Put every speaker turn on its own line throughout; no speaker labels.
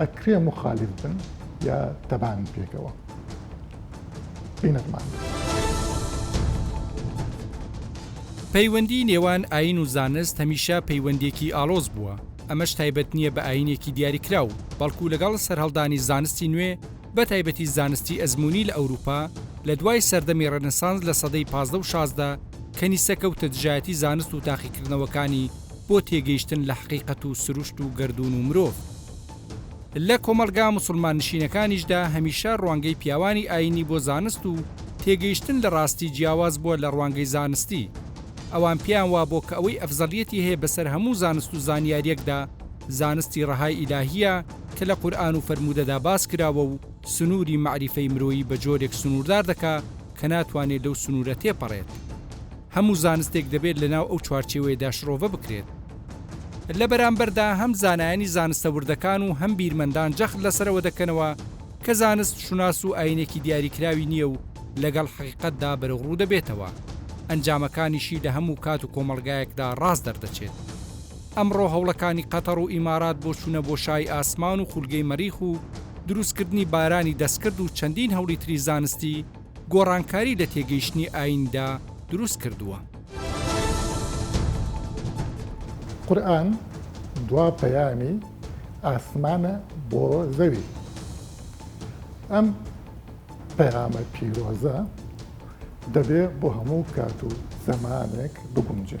ئەکرێ مخالیف بن یا تەبان پێکەوە بینەتمان.
پەیوەندی نێوان ئاین و زانست هەمیشە پەیوەندێکی ئاڵۆز بووە، ئەمەش تایبەت نییە بە ئاینێکی دیاریکراو، بەڵکو لەگەڵ سەرهەڵدانی زانستی نوێ، بە تایبەتی زانستی ئەزموونی لە ئەوروپا، لە دوای سەردەمی ڕێنسانس لە سەدەی پازدە و شازدە، کەنیسە کەوتە دژایەتی زانست و تاقیکردنەوەکانی بۆ تێگەیشتن لە حەقیقەت و سروشت و گەردوون و مرۆڤ. لە کۆمەڵگا موسڵماننشینەکانیشدا هەمیشە ڕوانگەی پیاوانی ئایینی بۆ زانست و تێگەیشتن لە ڕاستی جیاواز بووە لە ڕوانگەی زانستی. ئەوان پێیان وابووە کە ئەوەی ئەفزەڵیەتی هەیە بەسەر هەموو زانست و زانیارییەکدا، زانستی ڕەهای ئیلاهییە، کە لە قورئان و فەرموودەدا باس کراوە و سنووری مەعریفەی مرۆیی بە جۆرێک سنووردار دەکا کە ناتوانێ لەو سنوورە تێپەڕێت. هەموو زانستێک دەبێت لە ناو ئەو چوارچێوەیەدا شڕۆڤە بکرێت. لە بەرامبەردا هەم زانایانی زانستە وردەکان و هەم بیرمەندان جەخت لەسەرەوە دەکەنەوە کە زانست شوناس و ئایینێکی دیاریکراوی نییە و لەگەڵ حەقیقەتدا بەرەوڕوو دەبێتەوە، ئەنجامەکانیشی لە هەموو کات و کۆمەڵگایەکدا ڕاست دەردەچێت. ئەمڕۆ هەوڵەکانی قەتەڕ و ئیمارات بۆ چوونە بۆشایی ئاسمان و خولگەی مەریخ و دروستکردنی بارانی دەستکرد و چەندین هەوڵی تری زانستی، گۆڕانکاری لە تێگەیشتنی ئاییندا دروست کردووە.
قورئان دوا پەیامی ئاسمانە بۆ زەوی. ئەم پەیامە پیرۆزە دەبێ بۆ هەموو کات و زەمانێک بگونجێ.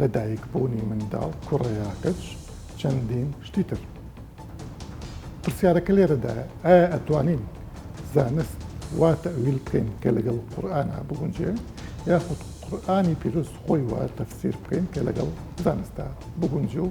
لە دایک بوونی منداڵ کوڕەیا کچ چەندین شتی تر پرسیارەکە لێرەدایە ئایا ئەتوانین زانست وا تەویل بکەین کە لەگەڵ قورآنا بگونجێ یاخود قورآانی پیرۆز خۆی وا تەفسیر بکەین کە لەگەڵ زانستا بگونجێ و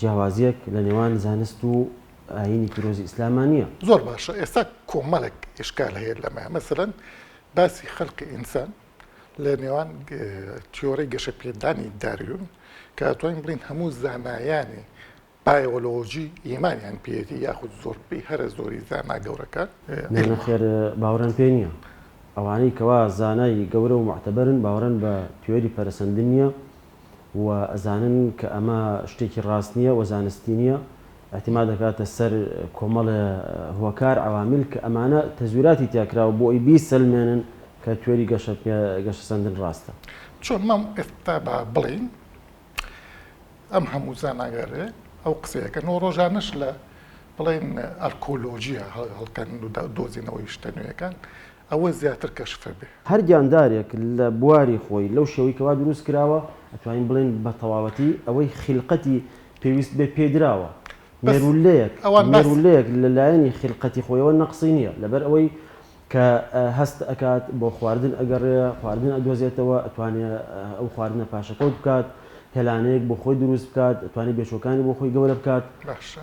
جیاوازیەک لە نێوان زانست و ئاینی پیرۆزی ئیسلاما نییە. زۆر باشە ئێستا
کۆمەڵێک ئشکال هەیە لەمە مەسەلەن باسی خەلقی ئینسان لە نێوان تیۆرەی گەشە پێدانی داروین کاتوانین بڵین هەموو زانایانی بایۆلۆژی ئیمانیان پێێتی یاخود زۆربەی هەرە زۆری زانا گەورەکە نەخێر
باوەڕان پێ نییە ئەوانەی کەوا زانای گەورە و معتەبەرن باوەڕن بە تیۆری پەرەسەندن نییە و ئەزانن کە ئەمە شتێکی ڕاست نییە و زانستی نییە، ئیعتیماد دەکاتە سەر کۆمەڵێ هۆکار، عوامل، کە ئەمانە تەزویراتی تیا کراوە بۆ ئەوەی بیسەلمێنن کە تیۆری گەشەسەندن ڕاستە. چۆن مام
ئێستا با بڵێین ئەم هەموو زانایانەی ئەو قسەیە کەن و ڕۆژانەش لە بڵێین ئەرکۆلۆژیا هەڵکەن و دۆزینەوەی شتە نوێیەکان ئەوە زیاتر کەشفە بێ. هەر گیاندارێک
لە بواری خۆی لەو شێوەی کەوا دروست کراوە ئەتوانین بڵێین بە تەواوەتی ئەوەی خیلقەتی پێویست بێ پێی دراوە بەس مێروولەیەک ئەوان باس مێروولەیەک لە لایەنی خیلقەتی خۆیەوە نەقسی نیە لەبەر ئەوەی کە هەست ئەکات بۆ خواردن ئەگەڕێ خواردن ئەدۆزێتەوە ئەتوانێ ئەو خواردنە پاشەکەوت بکات هێلانەیەک بۆ خۆی دروست بکات ئەتوانێ بێچووەکانی بۆ خۆی گەورە بکات. باشە.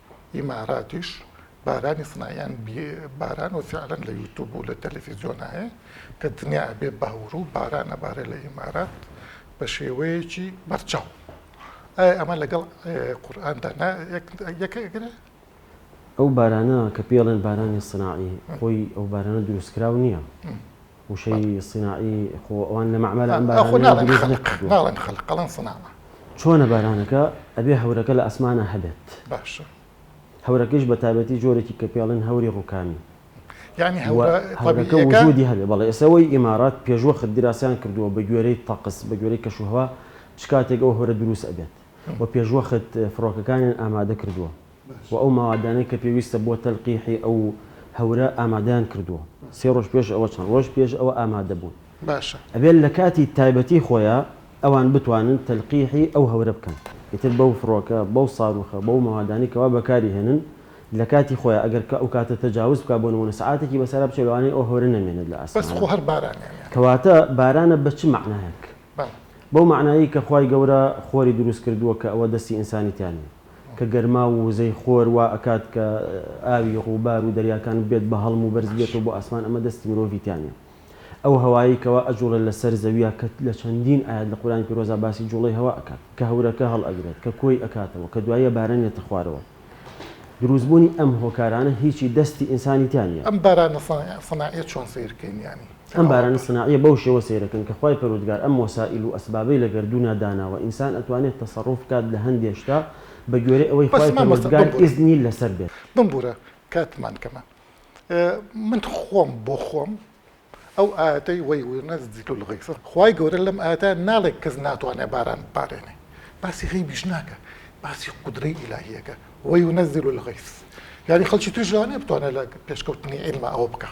ئیماراتیش بارانی سنایان باران و فعلەن لە یوتوب و لە تەلەفیزیۆن هەیە کە دنیا ئەبێ باور و باران ئەبارێ لە ئیمارات بە شێوەیەکی بەرچاو ئایا ئەمە لەگەڵ قورئاندا یەکەگرێ
ئەو بارانە کە پێڵێن بارانی سناعی خۆی ئەو بارانە دروستکراو نییە وشەی صیناعی خۆ ئەوان لە مەعمەرە ئەم بارانەیان دروست نەکردووە. ناڵێن
خەلق ئەڵێن صناعە. چۆنە بارانەکە؟
ئەبێ هەورەکە لە ئاسمانا هەبێت.
باشە. هەورەکەیش
بە تایبەتی جۆرێکی کە پێڵێن هەوری ڕووکانی. یانی هەورە
طەبیعییەکە. هەورەکە
وجودی هەبێ بەڵێ. ئێستا ئەوەی ئیمارات پێشوەخت دراسەیان کردووە بە گوێرەی طقس، بە گوێرەی کەشوهەوا چ کاتێک ئەو هەورە دروست ئەبێت و پێشوەخت فڕۆکەکانیان ئامادە کردووە. و ئەو مەوادانەی کە پێویستە بۆ تەلقیحی ئەو هەورە ئامادەیان کردووە سێ ڕۆژ پێش ئەوە چەند ڕۆژ پێش ئەوە ئامادە بوون ئەبێت لە
کاتی
تایبەتی خۆیا ئەوان بتوانن تەلقیحی ئەو هەورە بکەن ئیتر بەو فڕۆکە بەو ساروخە بەو مەوادانەی کەوا بەکاری هێنن لە کاتی خۆیا ئەگەر کە ئەو کاتە تەجاوز بکا بۆ نموونە سەعاتێکی بەسەرا بچێت لەوانەیە ئەو هەورە نەمێنێت لە ئاسمانا
کەواتە بارانە
بە چ مەعنایەک بەو مەعنایەی کە خوای گەورە خۆری دروست کردووە کە ئەوە دەستی ئینسانی تیا نیە. کە گەرماو و وزەی خۆر وا ئەکات کە ئاوی ڕووبار و دەریاکان ببێت بە هەڵم و بەرز بێتەوە بۆ ئاسمان ئەمە دەستی مرۆڤی تیا نیە ئەو هەوایەی کەوا ئەجوڵێت لە سەر زەویا کە لە چەندین ئایەت لە قورئانی پیرۆزا باسی جوڵەی هەوا ئەکات کە هەورەکە هەڵ ئەگرێت کە کۆی ئەکاتەوە کە دوایە باران یەتە خوارەوە دروست بوونی ئەم هۆکارانە هیچی دەستی ئینسانی تیا نیە. ئەم بارانە
سەناعیە چۆن سەیر کەین یانی. ئەم بارانە سناعیە
بەو شێوە سەیرەکەن کە خوای پەروردگار ئەم وەسائیل و ئەسبابەی لە گەردوونا داناوە ئینسان ئەتوانێت تەسەڕوف بکات لە هەندێ شتا بە گوێرەی ئەوەی بەس خوای مامۆستا پەروردگار بمبورە ئیزنی لەسەر بێت. بمبورە
کاتمان کەمە من خۆم بۆ خۆم ئەو ئایەتەی ویونزل الغیث خوای گەورە لەم ئایەتە ناڵێ کەس ناتوانێ باران ببارێنێ باسی غەیبیش ناکە باسی قودرەی ئیلاهی ئەکا ویونزل الغیث یانی خەڵکی تریش لەوانیە بتوانێ لە پێشکەوتنی عیلما ئەوە بکا.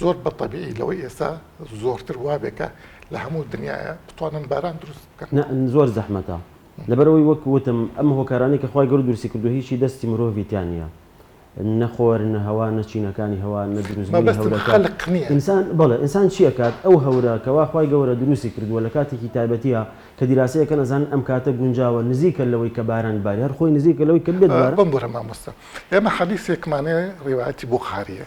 زۆر بە تەبیعی لەوەی ئێستا زۆرتر وابێ کە لە هەموو دنیایە بتوانن باران دروست بکەن. نا زۆر زەحمەتە
لەبەرئەوەی وەک وتم ئەم هۆکارانەی کە خوای گەورە دروستی کردووە هیچی دەستی مرۆڤی تیا نیە نە خۆر نە هەوا نە چینەکانی هەوا نە دروست بوونی مەبەستم هەورەکە خەلق نیە. ئینسان بەڵێ ئینسان چی ئەکات ئەو هەورە کەوا خوای گەورە دروستی کردووە لە کاتێکی تایبەتیە کە دیراسەی ئەکەن ئەزانن ئەم کاتە گونجاوە نزیکە لەوەی کە باران ببارێ هەر خۆی نزیکە لەوەی کە بێت باران. بمبورە مامۆستا
ئێمە حەدیسێکمانێ ڕیوایەتی بوخاریە.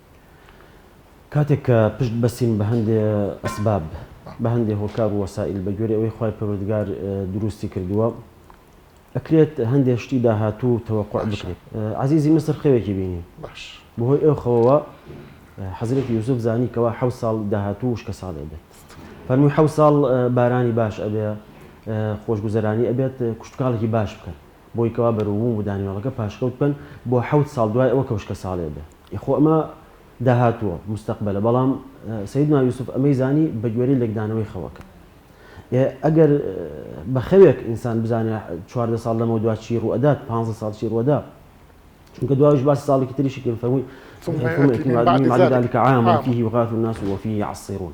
کاتێک
کە پشت بەستین بە هەندێ ئەسباب، بە هەندێ هۆکار و وەسائیل بە گوێرەی ئەوەی خوای پەروەردگار دروستی کردووە، ئەکرێت هەندێ شتی داهاتوو تەوەقوع بکرێت. عەزیزی میسر خەوێکی بینی، بە هۆی
ئەو خەوەوە
حەزرەتی یوسف زانی کەوا حەوت ساڵ داهاتوو وشکەساڵ ئەبێت. فەرمووی حەوت ساڵ بارانی باش ئەبێ، خۆشگوزەرانی ئەبێت، کشتوکاڵێکی باش بکەن، بۆی کەوا بەرووبووم و دانیوێڵەکە پاشکەوت بکەن بۆ حەوت ساڵ دوای ئەوە کە وشکەساڵی ئەبێت. خۆ ئەمە داهاتووە، مستەقبەلە، بەڵام سەیدنا یوسف ئەمەی زانی بە گوێرەی لێکدانەوەی خەوەکە. ئێ ئەگەر بە خەوێک ئینسان بزانێ چواردە ساڵ لەمەودوا چی ڕووئەدات، پانزە ساڵ چی ڕووئەدا، چونکە دواویش باسی ساڵێکی تریشی کرد، فەرمووی، ثم یأتی من بعد ذلک عام فیه یغاث الناس وفیه یعصرون.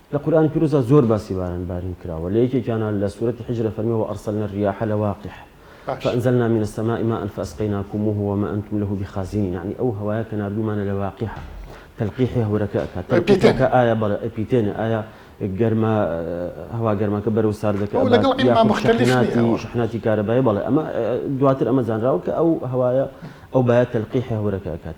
لە قورئانی پیرۆزدا
زۆر باسی باران بارین کراوە لە یەکێکیانا لە سورەتی حجر ئەفەرمێ وارسلنا الریاح لواقح فانزلنا من السماء ماء فاسقیناکموه وما انتم له بخازنین یەعنی ئەو هەوایە کە ناردوومانە لە واقحە تلقیحی هەورەکە ئەکات تلقیحەکە ئایا بەڵێ ئەپیتێنێ ئایا گەرما هەوا گەرماکە بەرەو ساردەکە ئەو لەگەڵ ئیمە مختلف نیە شحناتی کارەبای بەڵێ ئەمە دواتر ئەمە زانراوە کە ئەو هەوایە ئەو بایە تلقیحی هەورەکە ئەکات.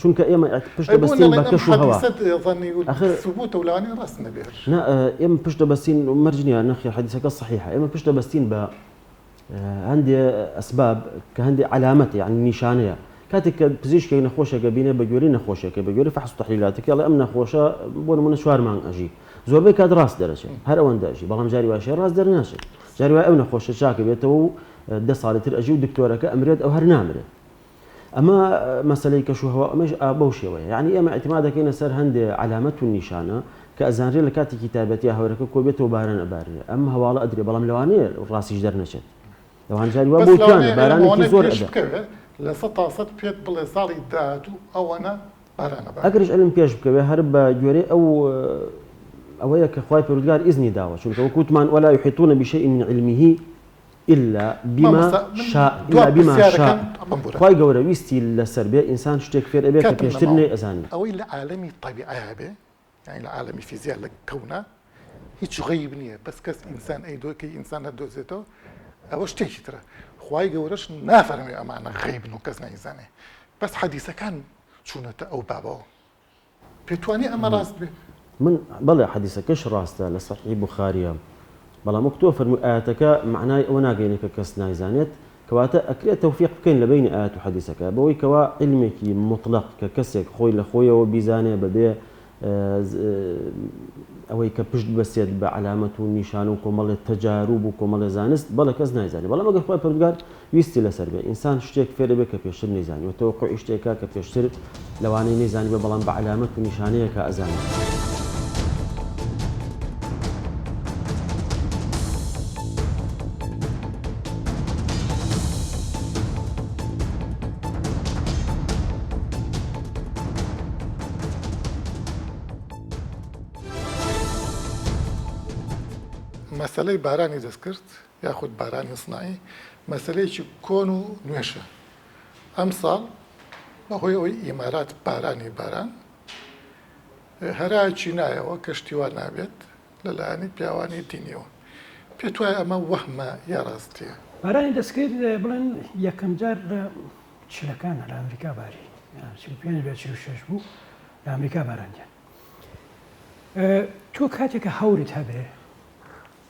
چونکە ئێمە پشت دەبەستین بە کەش و هەوا
ئێمە پشت
دەبەستین مەرجنیان نەخی حەدیسەکە صحیح ئێمە پشت دەبەستین بە هەندێ ئەسباب کە هەندێ علامەتی یعنی نیشانەیە کاتێک کە پزیشکێک نەخۆشێکە بینێ بە گوێری نەخۆشێکە بە گوێری فحس تحلیلاتەکە ئەم نەخۆشە بۆ نمونە چوار مانگ ئەژی زۆربەی کات ڕاست دەرەچێت هەر ئەوەندەژی بەڵام جاری واشێ ڕاست دەرناشێت جاری وای ئەو نەخۆشە چاکە بێتەوە و دە ساڵی تر ئەژی و دکتۆرەکە ئەمرێت ئەو هەر نامرێت ئەمە مەسەلەی کەش و هەوا ئەمەش بەو شێوەیە یانی ئێمە ئەتما دەکەینە سەر هەندێ علامەت و نیشانە کە ئەزانرێ لە کاتێکی تایبەتیا هەورەکە کۆبێتەوە باران ئەبارێ ئەم هەواڵە ئەدرێ بەڵام لەوانەیە ڕاستیش دەرنەچێت لەوانجاری وا بۆکانە بارانێکی زۆر ئەدا لە سە تا سەد
پێت بڵێ ساڵی داهاتوو ئەوەنە ئەگەریش ئەلم پێش
بکەوێ هەر بە گوێرەی ئەو ئەوەیە کە خخوای پرودگار ئیزنی داوە چونکەوە کووتمان وەلا حیتونە بیشە من علمیه الا بما مامۆستا من شاء دوا الا بما شاء پرسیارەکەم ئەمەم بورە. خوای گەورە ویستی لەسەر بێ ئینسان شتێک فێر ئەبێ کە کاتم پێشتر نەماوە. نەیئەزانی. ئەوەی لە عالەمی
تەبیعە هەبێ یانی لە عالەمی فیزیا لە کەونا هیچ غەیب نیە بەس کەس ئینسان ئەیدۆ کەی ئینسان ئەدۆزێتەوە ئەوە شتێکی ترە خوای گەورەش نافەرموێ ئەمانە غەیبن و کەس نایزانێ بەس حەدیسەکان چونەتە ئەو بابەوە. پێتوانێ ئەمە ڕاست بێت؟ من، بەڵێ
حەدیسەکەش ڕاستە لە سەحیحی بوخاریە، بەڵام وەک تۆ فەرمووی ئایەتەکە مەعنای ئەوە ناگەینێ کە کەس نایزانێت، کەواتە ئەکرێ تەوفیق بکەین لە بەینی ئایەت و حەدیسەکە بەوەی کەوا عیلمێکی موتڵەق کە کەسێک خۆی لە خۆیەوە بیزانێ بەبێ ئەوەی کە پشت ببەستێت بە عەلامەت و نیشان و کۆمەڵێ تەجاروب و کۆمەڵێ زانست بەڵێ کەس نایزانێ بەڵام ئەگەر خوای پەروەردگار ویستی لەسەر بێ ئینسان شتێک فێر ئەبێ کە پێشتر نەیزانی و تەوەقوعی شتێکە کە پێشتر لەوانەیە نەیزانیبێ بەڵام بە عەلامەت و نیشانەیەکە ئەزانیت. مەسەلەی
بارانی دەستکرد یاخود باران اصناعی مەسەلەیەکی کۆن و نوێشە ئەمساڵ بەهۆی ئەوەی ئیمارات بارانی باران هەرا چینایەوە کەشتیوان نابێت لەلایەنی پیاوانی دینیەوە پێت وایە ئەمە وەهمە یا ڕاستیە؟ بارانی دەستکرد
بڵێن یەکەم جار لە چلەکان لە ئەمریکا باری چل و پێنج بێ چل و شەش بوو لە ئەمریکا باراندیان تۆ کاتێکە هەورت هەبێ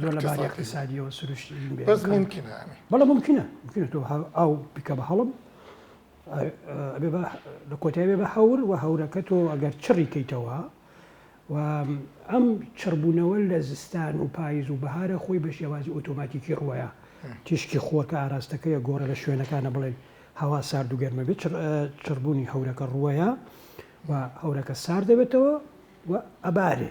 زۆر لە باری اقتصادیەوە سروشتی بەس ممکنە بەڵە
ممکنە
ممکنە تۆ ئاو بکە بە
هەڵم
لە کۆتایێ بە هەور و هەورەکە تۆ ئەگەر چڕی کەیتەوە و ئەم چڕبوونەوە لە زستان و پاییز و بەهارە خۆی بە شێوازی ئۆتۆماتیکی ڕوەیە تیشکی خۆکە ئاراستەکەی گۆڕە لە شوێنەکانە بڵێن هەوا سارد و گەرمە بێت چڕبوونی هەورەکە ڕوەیە و هەورەکە سارد دەبێتەوە و ئەبارێ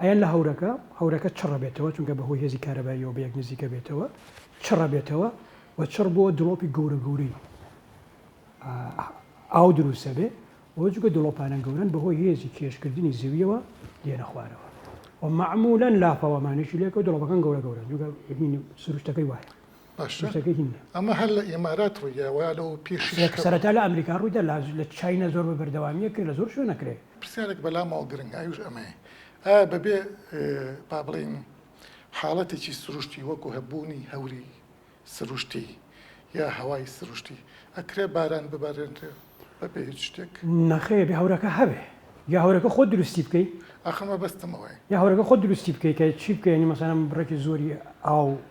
ئەیان لە هەورەکە، هەورەکە چڕ ئەبێتەوە چونکە بە هۆی هێزی کارەباییەوە بە یەک نزیک ئەبێتەوە، چڕ ئەبێتەوە و چڕ بۆ دڵۆپی گەورە گەورەی ئاو دروست ئەبێ و جوگە دڵۆپانە گەورەن بە هۆی هێزی کێش کردنی زەویەوە دێنە خوارەوە و مەعمولەن لاپەوە مانێکی لێکەوە دڵۆپەکان گەورە گەورەن جوگە سروشتەکەی وایە.
ئەمە هەر لە ئێمارات ڕوویداوە یا لەوە پێش سەرەتا لە ئەمریکا
ڕوویدا لا لە چاینا زۆر بە بەردەوامیە کرد لە زۆر شوێنە کرێ پرسیارێک بەلامەوە
گرنگ ئەوش ئەمەیە ئایا بەبێ با بڵێین حاڵەتێکی سروشتی وەکو هەبوونی هەوری سروشتی یا هەوای سروشتی ئەکرێ باران ببارێنرێ بەبێ هیچ شتێک نەخێ بێ هەورەکە
هەبێ یا هەورەکە خۆ دروستی بکەی ئەخەمە بەستمەوەی
یا هەورەکە خۆ دروستی
بکەی کە چی بکەی مەسەلەن بڕێکی زۆری ئاو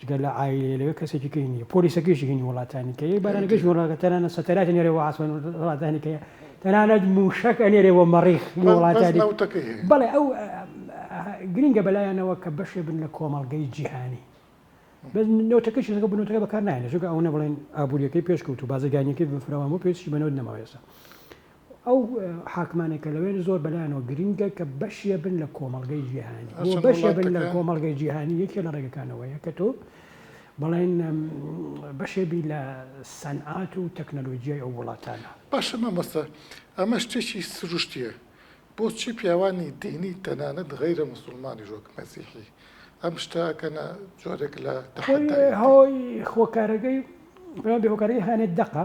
جگە لە عایلەی لەوێ کەسێکی کەی نییە پۆلیسەکەیشی هینی وڵاتانی کە یەی بارانەکە هیچ وڵاتە تەنانەت سەتەرایت نێرێ بۆ عاسمان وڵاتانی کە تەنانەت مووشەک ئەنێرێ بۆ مەڕیخ بەس وڵاتانی نەوتەکەی هەیە بەڵێ ئەو گرینگە بەلایانەوە کە بەشێ بن لە کۆمەڵگەی جیهانی بەس نەوتەکەی چیزەکە بنەوتەکە بەکار نایەنە چونکە ئەوەنە بڵێن ئابووریەکەی پێشکەوت و بازرگانیەکەی بفراوان بۆ پێستی بە نەوت نەماوە ئێستا ئەو حاکمانەی کە لەوێن زۆر بەلایانەوە گرینگە کە بەشێ بن لە کۆمەڵگەی جیهانی بۆ هەرچەند بەشێ بن لە وڵاتەکە کۆمەڵگەی جیهانی یەکێ لە ڕێگەکانەوەیە کە تۆ بەڵێن ئەم، بەشێ بی لە سەنعات و تەکنەلۆجیای ئەو وڵاتانە. باشە مامۆستا
ئەمە شتێکی سروشتیە بۆچی پیاوانی دینی تەنانەت غەیرە موسوڵمانیش وەک مەسیحی ئەم شتە ئەکەنە جۆرێک لە خۆی تەحەدای دین؟ هۆی
هۆکارەکەی پێمان بێ هۆکارەکەی هەنێ دەقە.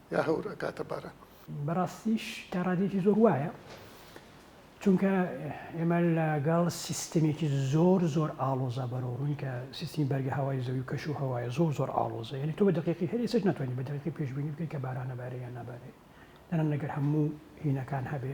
یا هەور ئەکاتە باران. بەڕاستیش
تا ڕادەیەکی زۆر وایە، چونکە ئێمە لەگەڵ سیستمێکی زۆر زۆر ئاڵۆزا بەرەوڕووین کە سیستمی بەرگەهەوای زەوی و کەش و هەوایە زۆر زۆر ئاڵۆزە یانی تۆ بە دەقیقی هەر ئێسش ناتوانانی بە دەقیقی پێشبینی بکەی کە باران ئەبارێ یان نابارێ دەنان لەگەر هەموو هینەکان هەبێ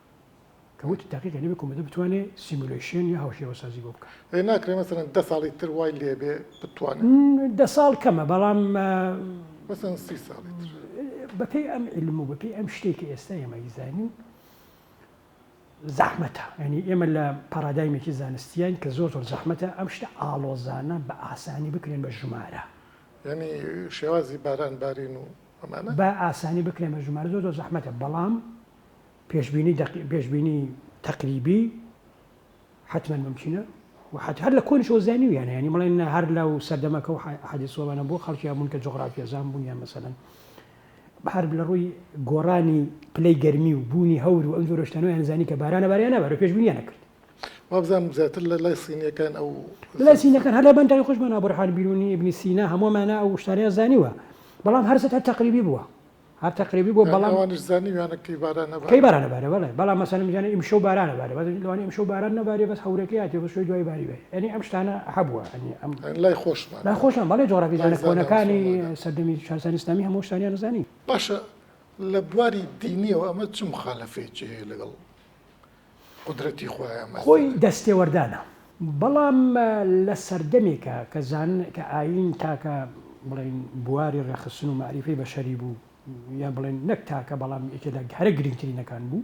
کە وتی تاقیکە نەبێ کۆمەدە بتوانێ سیمولەیشێن یا هاوشێوەسازی بۆ بکا. ئەی ناکرێ مەسەلەن دە ساڵی
تر وای لێ بێ بتوانێ؟ دە ساڵ
کەمە بەڵام مەسەلەن
سی ساڵی تر.
بەپێی ئەم عیلم و بەپێی ئەم شتەی کە ئێستا ئێمە ئەیزانین زەحمەتە. یانی ئێمە لە پارادایمێکی زانستیین کە زۆر زۆر زەحمەتە ئەم شتە ئاڵۆزانە بە ئاسانی بکرێن بە ژمارە. یانی
شێوازی باران بارین و ئەمانە؟ بە ئاسانی بکرێن
بە ژمارە زۆر زۆر زەحمەتە بەڵام پێشبینی دەقی پێشبینی تەقریبی حتمەن ممکنە و حتی هەر لە کۆنیشەوە زانیویانە ینی بڵێن نە هەر لە و سەردەمەکە و حەدیسۆوانە بۆ خەڵکیان بوون کە جغرافیەزان بوون یان مەسەن هەر لە ڕووی گۆڕانی پلەی گەرمی و بوونی هەور و ئەم جۆرەشتانەوە یانزانی کە بارانە باریانە بەرە پێشبینیانە کرد وابزان
زیاتر لە لای سینیەکان ئەو لای سینەکان هەر لە
بەندای خۆشمان ئابرحان بیرونی ابنی سینا هەموومانە ئەو شتانیان زانیوە بەڵام هەرزت هەر تەقریبی بووە هەر تەقریبی بووە بەڵام ئەوانیش زانیویانە کەی
باران ئەبارێ کەی باران ئەبارێ بەڵێ
بەڵام مەسەلەن بزانێ ئیمشەو باران ئەبارێ بەس لەوانەیە ئیمشەو باران نەبارێ بەس هەورەکەی هاتیە بەس شوێ دوای باری بێ یانی ئەم شتانە هەبووە یانی ئەم لای خۆشمان لای
خۆشمان بەڵێ جۆرابیزانە
کۆنەکانی سەردەمی شارستانی ئیسلامی هەموو شتانیان زانی باشە
لە بواری دینیەوە ئەمە چ مخالەفەیەکی هەیە لەگەڵ قودرەتی خوایە مەسەلە. خۆی دەستێوەردانە.
بەڵام لە سەردەمێکا کە زان کە ئایین تاکە بڵێین بواری ڕێکخستن و مەعریفەی بەشەری بوو یان بڵێین نەک تاکە بەڵام یەکێ لە هەرە گرینگترینەکان بوو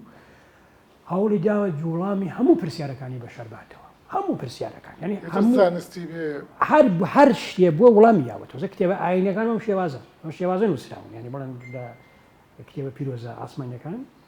هەوڵی داوە جووڵامی هەموو پرسیارەکانی بەشەر باتەوە هەموو پرسیارەکان یانی ئیتر هەموو زانستی
بێ هەر
هەر شتێ بووە وڵامی یاوە تۆزە کتێبە ئایینەکان بەم شێوازە بەم شێوازە نووسراون یانی بڵێن لە کتێبە پیرۆزە ئاسمانیەکان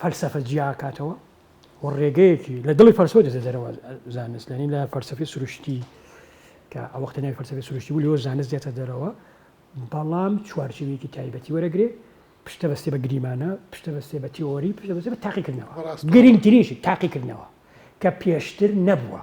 فەلسەفە جیا کاتەوە و ڕێگەیەکی لە دڵی فەلسەوە دێتە دەرەوە زانست لەنی لە فەلسەفی سروشتی کە ئەو وەختە ناوی فەلسەفی سروشتی بوو لەوە زانست دێتە دەرەوە بەڵام چوارچێوێکی تایبەتی وەرەگرێ پشتە بەستێ بە گریمانە پشتە بەستێ بە تیۆری پشتە بەستێ بە تاقیکردنەوە گرنگترینشی تاقیکردنەوە کە پێشتر نەبووە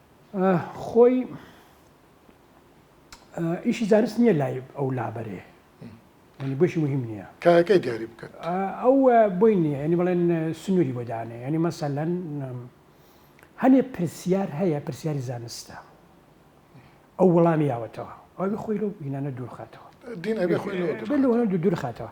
خۆی ئیشی زانست نییە لای ئەو لابەرێ ینی بۆشی مهم نییە کاکەی دیاری بکەن
ئەو بۆی
نییە ینی بڵێن سنووری بۆ دانێ ینی مەسەلەن هەنێ پرسیار هەیە پرسیاری زانستە ئەو وەڵامی یاوەتەوە ئەوی خۆی لەو بینانە دوورخاتەوە
دوورخاتەوە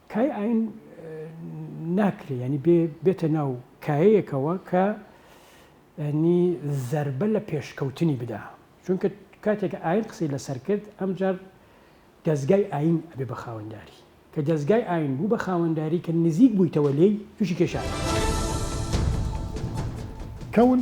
کای ئاین ناکرێ یانی بێ بێتە ناو کایەیەکەوە کە ینی زەربە لە پێشکەوتنی بدا چونکە کاتێک ئاین قسەی لەسەر کرد ئەمجار دەستگای ئاین ئەبێ بە خاوەنداری کە دەستگای ئاین بوو بە خاوەنداری کە نزیک بوویتەوە لێی تووشی کێشاکە
کەون.